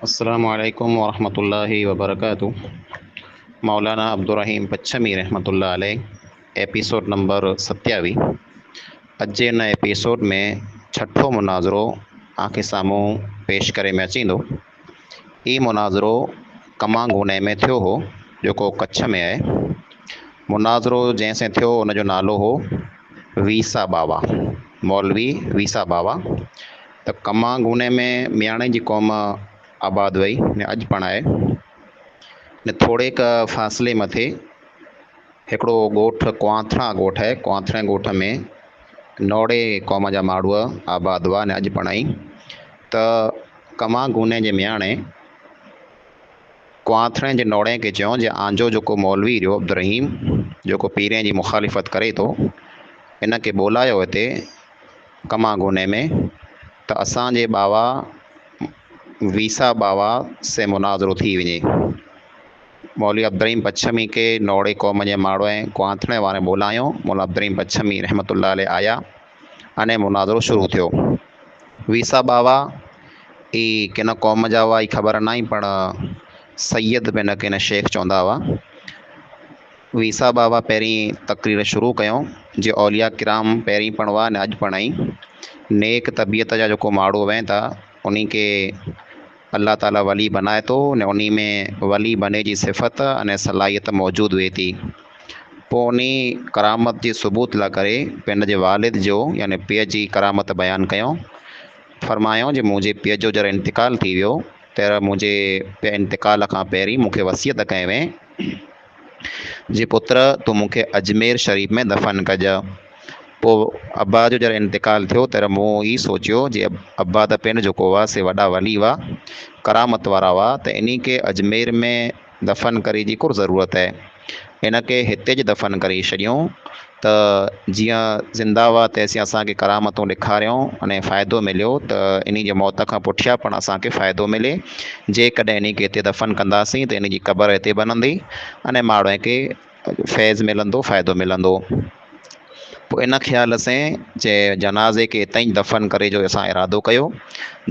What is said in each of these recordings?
السلام عليڪم ورحمة الله وبرڪاته مولانا عبدالرحيم پڇمي رحمت الله عليه ايپيسوڊ نمبر ستياويهه اڄ جي ان ايپيسوڊ ۾ ڇٺو مناظرو آنکي سامهون پيش ڪري ۾ اچين ٿو هي مناظرو ڪمانگوني ۾ ٿيو هو جيڪو ڪڇ ۾ آهي مناظرو جنهن سين ٿيو ان جو نالو هو ويسا باوا مولوي ويسا باوا ته ڪما گوني ۾ مياڻي جي قوم آباد وئي ۽ اڄ پڻ آهي ۽ ٿوريڪ فاصلي مٿي هڪڙو ڳوٺ ڪوانٿڻا ڳوٺ آهي، ڪوانٿڻي ڳوٺ ۾ نوڙي قوم جا ماڙهوء آباد هئا ۽ اڄ پڻ آهين ته ڪما گوني جي مياڻي ڪوانٿڻي جي نوڙي کي چيو جي آنجو جيڪو مولوي رهيو عبدالرحيم جيڪو پيرين جي مخالفت ڪري ٿو ان کي ٻولايو هتي ڪما گوني ۾ ته اسان جي ٻاوا ويسا ٻاوا سين مناظرو ٿي وڃي. مولوي عبدالرحيم پڇمي کي نوڙي قوم جي ماڙو ۽ ڪوانٿڻي وارن ٻولايو. مولوي عبدالرحيم پڇمي رحمة الله عليه آيا ۽ مناظرو شروع ٿيو. ويسا ٻاوا ئي ڪن قوم جا هئا اهي خبر ناهي پڻ سيد به نه ڪين شيخ چوندا هئا. ويساهه بابا پهرين تقرير شروع ڪيو جي اولياء ڪرام پهرين پڻوا نه اڄ پڻائي نيڪ طبيعت جا جيڪو ماڙهو وهين ٿا انهي کي الله تعالي ولي بنائي ٿو ۽ انهي ۾ ولي بني جي صفت ۽ صلاحيت موجود هئي ٿي پوء انهي ڪرامت جي ثبوت لا ڪري پنهن جي والد جو يعني پيء جي ڪرامت بيان ڪيو فرمايائون جي منهنجي پيء جو جڏهن انتقال ٿي ويو تهڙي منهنجي پيء انتقال کان پهرين مون کي وصيت ڪئي وئي جي پتر تون مون کي اجمير شريف ۾ دفن ڪج. پوء ابا جو جڏهن انتقال ٿيو تڏهن مون هي سوچيو جي ابا ته پنهنجو جيڪو هئا سي وڏا ولي هئا، ڪرامت وارا هئا ته انهي کي اجمير ۾ دفن ڪري جي ڪر ضرورت هي. ان کي هتي جي دفن ڪري ڇڏيون. ته جيئن زنده هئا ته سين اسان کي ڪرامتون ڏيکاريون انهي فائدو مليو ته انهي جي موت کان پٺيان پڻ اسان کي فائدو ملي جيڪڏهن انهي کي هتي دفن ڪنداسين ته انهي جي قبر هتي بنندي انهي ماڻهوء کي فيض ملندو فائدو ملندو پوء ان خيال سين جي جنازي کي هتئين ئي دفن ڪري جو اسان ارادو ڪيو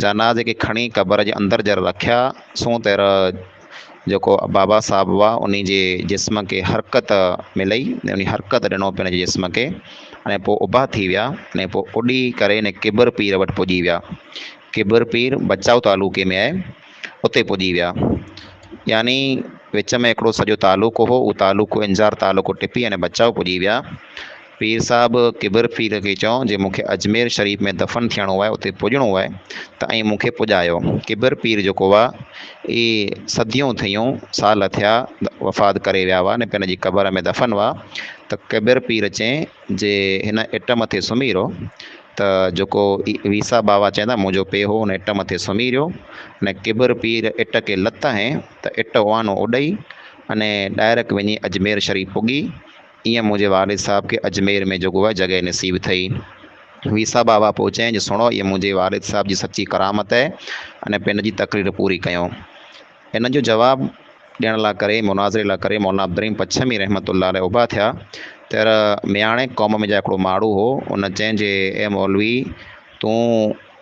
جنازي کي کڻي قبر جي اندر جر رکيا سون تر جيڪو بابا صاحب هئا انهي جي جسم کي حرڪت ملئي انهي حرڪت ڏنو پنهنجي جسم کي ۽ پوء اڀا ٿي ويا ۽ پوء اڏي ڪري انهي ڪٻر پير وٽ پڄي ويا ڪٻر پير بچائو تعلقي ۾ آهي اتي پڄي ويا يعني وچ ۾ هڪڙو سڄو تعلقو هو اهو تعلقو انزار تعلقو ٽپي يعني بچائو پڄي ويا پير صاحب ڪبر پير کي چئو جي مون کي اجمير شريف ۾ دفن ٿيڻو آهي اتي پڄڻو آهي ته ائين مون کي پڄايو. ڪبر پير جيڪو هئا اهي صديون ٿيون سال ٿيا وفات ڪري ويا هئا ني پنهنجي قبر ۾ دفن هئا ته ڪبر پير چين جي هن اٽ مٿي سمهي رهو ته جيڪو ويسا باوا چين ٿا منهنجو پي هو ان اٽ مٿي سمهي رهيو ني ڪبر پير اٽ کي لت هنئي ته اٽ اوانو اڏئي اني ڊائرڪ وڃي اجمير شريف پڳي. ايئن منهنجي والد صاحب کي اجمير ۾ جوڳو اها جڳهه نصيب ٿئي. ويساهه بابا پوء چيائين جو سڻو اهي منهنجي والد صاحب جي سچي ڪرامت اهي ۽ پنهن جي تقرير پوري ڪيو. ان جو جواب ڏيڻ لا ڪري، مناظري لا ڪري مولانا عبدالرحيم پڇمي رحمة الله عليه اڀا ٿيا تر مياڻي قوم ۾ جا هڪڙو ماڙهو هو ان چيائين جي اي مولوي تون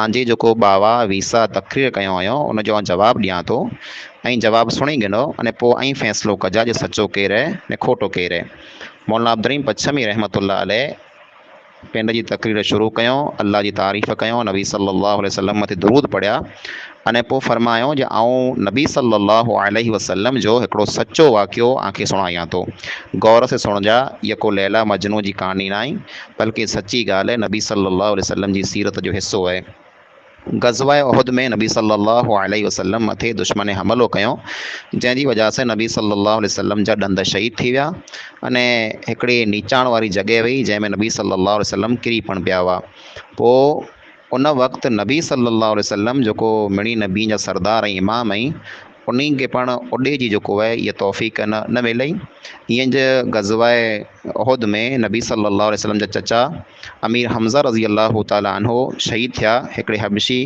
آن جي جيڪو باوا ويسا تقرير ڪيو هيو ان جو آن جواب ڏيان ٿو ۽ جواب سڻي گنو اني پو ائين فيصلو ڪجا جي سچو ڪير هي ني کوٽو ڪير هي مولانا عبدالرحيم پڇمي رحمة الله عليه پنڊ جي تقرير شروع ڪيو الله جي تعريف ڪيو نبي صلي الله عليه وسلم مٿي درود پڙهيا اني پو فرمايو جي آئون نبي صلي الله عليه وسلم جو هڪڙو سچو واقعو آن کي سڻايان ٿو غور سي سڻجا يڪو ليلا مجنون جي ڪهاڻي ناهي بلڪه سچي ڳالهه آهي نبي صلّي اللّٰه عليه وسلّم جي سيرت جو حصو آهي. غزوه احد ۾ نبي صلّي اللّٰه عليه وسلّم مٿي دشمن حملو ڪيو جنهن جي وجه سان نبي صلّي اللّٰه عليه وسلّم جا ڏند شهيد ٿي ويا ان هڪڙي نيچاڻ واري جڳهه هئي جنهن ۾ نبي صلّي اللّٰه عليه وسلّم ڪري پڻ پيا هئا پوء ان وقت نبي صلّي اللّٰه عليه وسلّم جيڪو مڙني نبين جا سردار ۽ امام ائين انهين کي پڻ اڏي جي جيڪو اهي اها توفيق نه نه ملئي ايئن جي غزوه احد ۾ نبي صلّي اللّٰه عليه وسلّم جا چچا امير حمزه رضي الله تعالٰي عنه شهيد ٿيا هڪڙي حبشي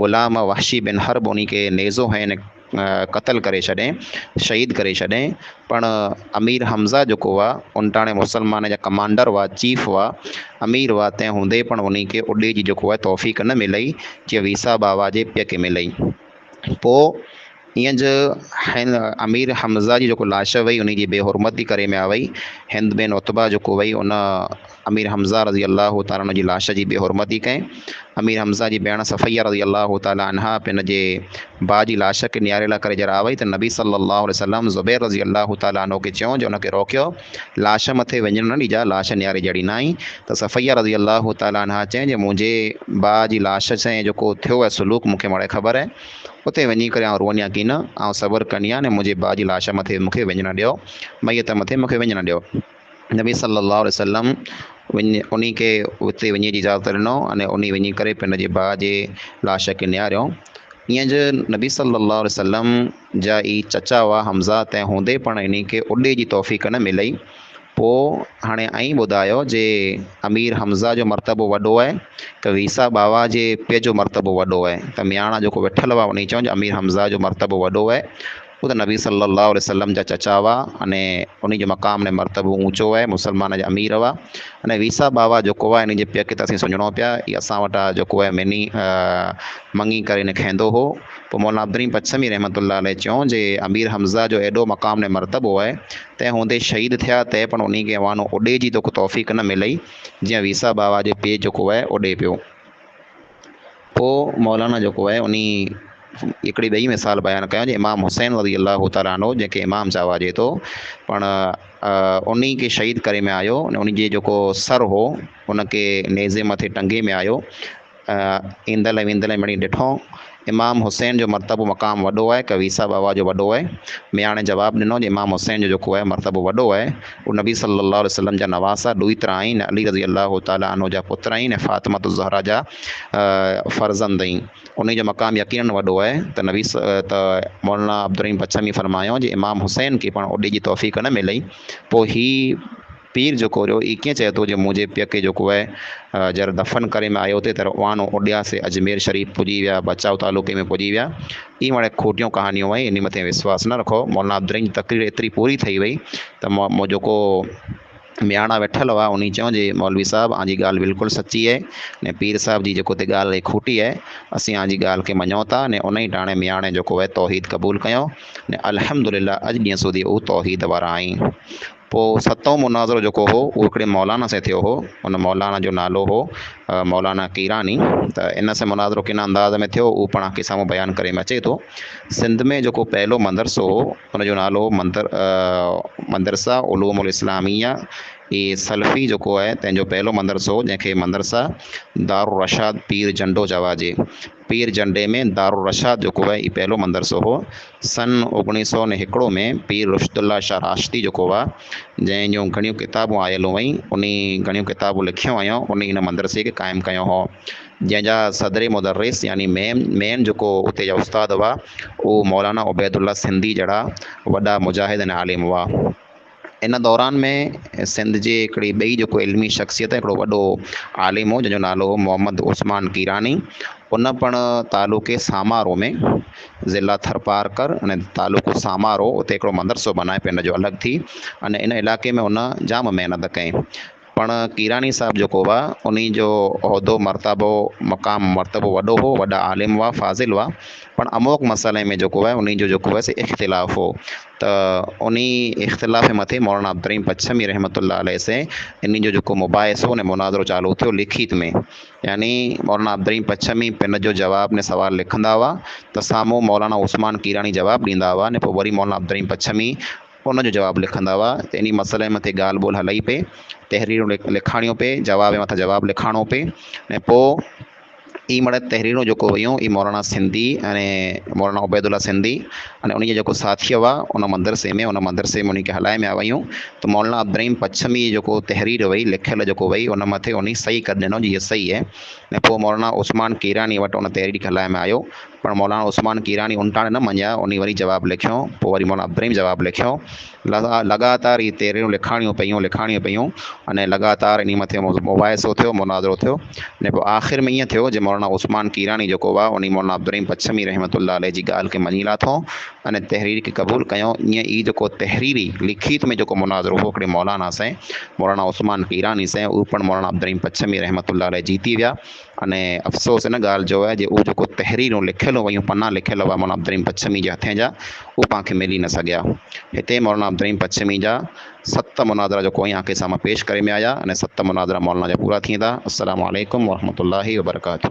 غلام وحشي بن حرب انهين کي نيزو هنئين قتل ڪري ڇڏين، شهيد ڪري ڇڏين، پڻ امير حمزه جيڪو هئا، انٽاڻي مسلمانن جا ڪمانڊر هئا، چيف هئا، امير هئا، تنهن هوندي پڻ انهي کي اڏي جي جيڪو آهي توفيق نه ملئي، جيئن ويساهه بابا جي پيء کي ملئي. پوء ايئن جو هن امير حمزه جي جيڪو لاش هئي، انهي جي بي حرمتي ڪري ۾ آ وئي. هند بن عتبه جيڪو هئي، ان امير حمزه رضي الله تعالٰي عنه جي لاش جي بي حرمتي ڪئي. امير حمزه جي ڀيڻ صفيه رضي الله تعالٰي عنها پن جي ڀاء جي لاش کي نياري لاء ڪري جرا وئي ته نبي صلّي الله عليه وسلّم زبير رضي الله تعالٰي عنه کي چيو جو ان کي روڪيو، لاش مٿي وڃڻ نه ڏجاء، لاش نياري جڙيندائين ته صفيه رضي الله تعالٰي عنها چيائين جو منهنجي ڀاء جي لاش سين جيڪو ٿيو اهي سلوڪ مون کي مڙئي خبر اهي، اتي وڃي ڪري آئون روئنديان ڪين، آئون صبر ڪنديان ۽ منهنجي ڀاء جي لاش مٿي مون کي وڃڻ ڏيو، ميت مٿي مون کي وڃڻ ڏيو. نبي صلّي اللّٰه عليه وسلّم وڃي انهي کي اتي وڃي جي اجازت ڏنو اني انهي وڃي ڪري پنهنجي پنهنجي ڀاء جي لاش کي نهاريو ائين جو نبي صلّي اللّٰه عليه وسلّم جا اي چچا هئا حمزه تنهن هوندي پڻ انهي کي اڏي جي توفيق نه ملئي پوء هاڻي ائين ٻڌايو جي امير حمزه جو مرتبو وڏو آهي ته ويسا ٻاوا جي پيء جو مرتبو وڏو آهي ته مياڻا جيڪو ويٺل هئا انهي چيو جو امير حمزه جو مرتبو وڏو آهي هو ته نبي صلّي اللّٰه عليه وسلّم جا چچا هئا اني انهن جو مقام اني مرتبو اوچو آهي مسلمانن جا امير هئا اني ويسا ٻاوا جيڪو آهي انهن جي پيء کي ته اسين سڃڻو پيا هي اسان وٽ آهي جيڪو آهي مني مڱي ڪري اني کهندو هو پوء مولانا عبدالرحيم پڇمي رحمة الله عليه چيو جي امير حمزه جو ايڏو مقام اني مرتبو آهي تنهن هوندي شهيد ٿيا تي پڻ انهي کي اهوانو اڏي جي توکي توفيق نه ملئي جيئن ويسا ٻاوا جو پيء جيڪو آهي اڏي پيو. پوء مولانا جيڪو آهي انهي هڪڙي ٻئي مثال بيان ڪيا جي امام حسين رضي الله تعالٰي عنه جنهن کي امام چواجي ٿو پڻ انهي کي شهيد ڪري ۾ آيو انهي جي جيڪو سر هو ان کي نيزي مٿي ٽنگي ۾ آيو ايندل ۽ ويندل مڙئي ڏٺو امام حسين جو مرتبو مقام وڏو آهي ڪويسا بابا جو وڏو آهي مياڻي جواب ڏنو جي امام حسين جو جيڪو آهي مرتبو وڏو آهي هو نبي صلّي اللّٰه عليه وسلّم جا نواسا ڏوهيتر آهن ۽ علي رضي الله تعالٰي عنه جا پٽ آهن ۽ فاطمة الزهراء جا فرزند آهن انهي جو مقام يقيناً وڏو آهي ته نبي ص ته مولانا عبدالرحيم بڇمي فرمايو جي امام حسين کي پڻ اوڏي جي توفيق نه ملئي پوء هي پير جيڪو جو اي ڪيئن چئي ٿو جو منهنجي پيء کي جيڪو آهي جر دفن ڪري ۾ آيو ٿي تر اوانو اوڏيا سي اجمير شريف پڄي ويا بچاء تعلقي ۾ پڄي ويا اي وڻي کوٽيون ڪهاڻيون وئي انهي مٿي وسواس نه رکو مولانا عبدالرحيم جي تقرير ايتري پوري ٿئي وئي ته مو جيڪو مياڻا ويٺل هئا انهي چيو جي مولوي صاحب آنجي ڳالهه بلڪل سچي آهي ني پير صاحب جي جيڪو تي ڳالهه اهي کوٽي آهي اسين آنجي ڳالهه کي مڃون ٿا ني انهي ٽاڻي مياڻي جيڪو اهي توحيد قبول ڪيو ني الحمدلله اڄ ڏينهن سودي هو توحيد وارا آهين پوء ستون مناظرو جيڪو هو اهو هڪڙي مولانا سين ٿيو هو ان مولانا جو نالو هو مولانا قيراني ته ان سين مناظرو ڪن انداز ۾ ٿيو اهو پڻ آخري سامهون بيان ڪري ۾ اچي ٿو سنڌ ۾ جيڪو پهلو مندرسو هو ان جو نالو هو مندر مندرسا علوم الاسلاميه هي سلفي جيڪو آهي تنهنجو پهلو مندرسو هو جنهن کي مندرسا دارالرشاد پير جنڊو جواجي پير جنڊي ۾ دارالرشاد جو ڪوهه ئي پهريون مندرسو هو. سن اوڳڻيهه سئو ني هڪڙو ۾ پير رشد الله شاهه راشدي جو ڪوهه، جنهن جون گهڻيون ڪتابون آيل هئين، انهي گهڻيون ڪتابون لکيون هيون، انهي هن مندرسي کي قائم ڪيو هو. جنهن جا صدر مدرس يعني مين مين جيڪو اتي جا استاد هئا، اهو مولانا عبيدالله سنڌي جهڙا وڏا مجاهد ۽ عالم هئا. ان دوران ۾ سنڌ جي هڪڙي ٻئي جيڪو علمي شخصيت آهي هڪڙو وڏو عالم هو جنهنجو نالو هو محمد عثمان ڪيراني ان پڻ تعلقي سامارو ۾ ضلع ٿرپارڪر ان تعلقو سامارو اتي هڪڙو مدرسو بنائي پنهنجو الڳ ٿي ان ان علائقي ۾ ان جام محنت ڪئي پڻ ڪيراڻي صاحب جيڪو هئا، انهي جو عهدو مرتابو مقام مرتبو وڏو هو، وڏا عالم هئا، فاضل هئا، پڻ اموک مسئلي ۾ جيڪو هئا انهي جو جيڪو هئا سي اختلاف هو ته انهي اختلاف جي مٿي مولانا عبدالرحيم پڇمي رحمة الله عليه سين انهي جو جيڪو مباحثو ۽ مناظرو چالو ٿيو لکيت ۾ يعني مولانا عبدالرحيم پڇمي پن جو جواب ۽ سوال لکندا هئا ته سامهون مولانا عثمان ڪيراڻي جواب ڏيندا هئا ۽ پوء وري مولانا عبدالرحيم پڇمي ان جو جواب لکندا هئا ته انهي مسئلي مٿي ڳالهه ٻولهه هلئي پئي، تحريرون لکاڻيون پئي، جواب مٿان جواب لکاڻو پئي ۽ پوء ئي مڙئي تحريرون جيڪو ويون اي مولانا سنڌي ۽ مولانا عبيدالله سنڌي ۽ انهي جا جيڪو ساٿي هئا ان مدرسي ۾ ان مدرسي ۾ انهي کي هلائي ميا ويون ته مولانا عبدالرحيم پڇمي جي جيڪو تحرير وئي لکيل جيڪو وئي ان مٿي انهي صحيح ڪري ڏنو جي هي صحيح هي ۽ پوء مولانا عثمان ڪيراني وٽ ان تحرير کي هلائي ۾ آيو پر مولانا عثمان ڪيراڻي انٽاڻي نه مڃيا، انهي وري جواب لکيو، پوء وري مولانا ابراهيم جواب لکيو، لڳاتار هي تحريرون لکاڻيون پيون، لکاڻيون پيون، انهي لڳاتار انهي مٿي مباحثو ٿيو، مناظرو ٿيو، انهي پوء آخر ۾ ائين ٿيو جي مولانا عثمان ڪيراڻي جيڪو هئا، انهي مولانا ابراهيم پڇمي رحمة الله عليه جي ڳالهه کي مڃي لاٿو، انهي تحرير کي قبول ڪيو، ائين ئي جيڪو تحريري، لکيت، ۾ جيڪو مناظرو هو هڪڙي مولانا سين، مولانا عثمان ڪيراڻي سين، اهو پڻ مولانا ابراهيم پڇمي رحمة الله عليه جيتي ويا. اني افسوس ان ڳالهه جو آهي جو اهو جيڪو تحريرون لکيل هيون پنا لکيل هئا مولانا عبدالرحيم پڇمي جي هٿين جا اهي پان کي ملي نه سگهيا. هتي مولانا عبدالرحيم پڇمي جا ست مناظرا جيڪو اوهين آنکي سامهون پيش ڪري ۾ آيا اني ست مناظرا مولانا جا پورا ٿيندا. السلام عليڪم ورحمة الله وبرڪاته.